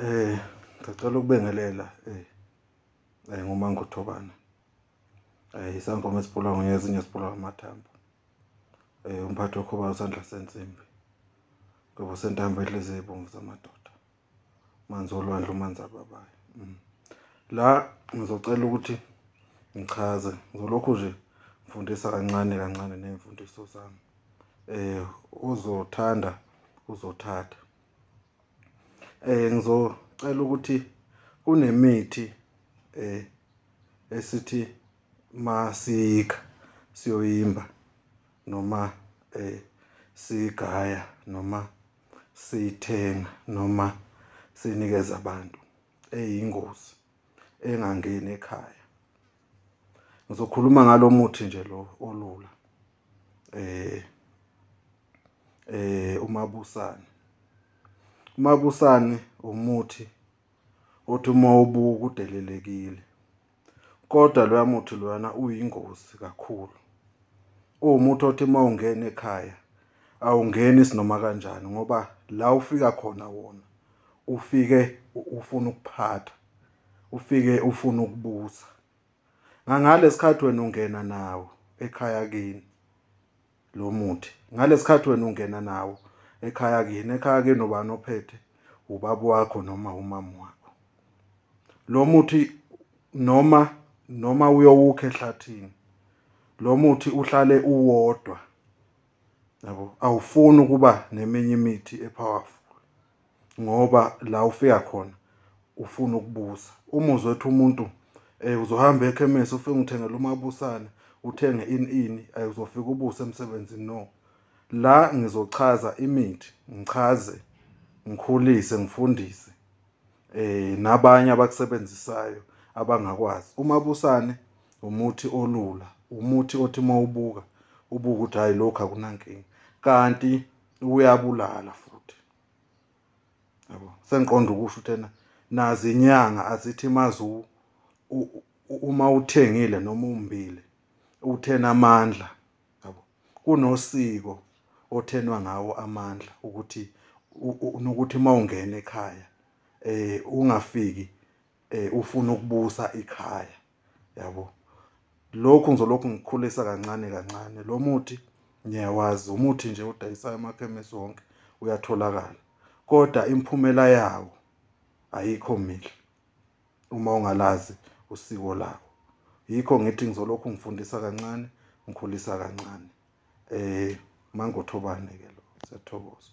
Eh ngicela ukubengelela eh eh ngumangothobana. Eh isangoma esiphula ngezinye esiphula amathambo. Eh umphathi okhoba usandla sensimbi. Ngoba sentambo edleze ibomvu zamadoda. Manzi olwandle umanzi ababayo. Mm. La ngizocela ukuthi ngichaze ngizolokhu nje ngifundisa kancane kancane nemfundiso zami. Eh uzothanda uzothatha. eh ngizocela ukuthi kunemithi eh esithi masika siyoyimba noma eh sigaya noma sithenga noma sinikeza abantu eyingozi engangeni ekhaya ngizokhuluma ngalomuthi nje lo olula eh eh umabusane umabusane umuthi othi uma ubuka udelelekile kodwa loya muthi loyana uyingozi kakhulu uwumuthi othi uma ungena ekhaya awungeni sinoma kanjani ngoba la ufika khona wona ufike ufuna ukuphatha ufike ufuna ukubusa ngangalesikhathi wena ungena nawo ekhaya kini lo muthi ngalesikhathi wena ungena nawo ekhaya kini ekhaya kini ubani ophethe ubaba wakho noma umama wakho lo muthi noma noma uyowukha ehlathini lo muthi uhlale uwodwa yabo awufuni ukuba neminye imithi epowerful ngoba la ufika khona ufuna ukubusa uma uzothi umuntu um uzohamba ekhemesi ufike ngithengela umabusane uthenge ini ini um uzofika ubuse emsebenzini no la ngizochaza imithi ngichaze ngikhulise ngifundise eh nabanye abakusebenzisayo abangakwazi umabusane umuthi olula umuthi othi mawubuka ubuka ukuthi hayi lokho akunankinga kanti uyabulala futhi yabo sengiqonda ukusho uthena nazi inyanga azithi mazi uma uthengile noma umbile uthena amandla yabo kunosiko othenwa ngawo amandla ukuthi nokuthi mawungena ekhaya eh ungafiki eh ufuna ukubusa ikhaya yabo lokhu ngizolokhu ngikhulisa kancane kancane lo muthi ngiyawazi umuthi nje odayisayo emakhemesi wonke uyatholakala kodwa imphumela yawo ayikho mihle uma ungalazi usiko lawo yikho ngithi ngizolokhu ngifundisa kancane ngikhulisa kancane eh mangothobane ke lo siyathokoza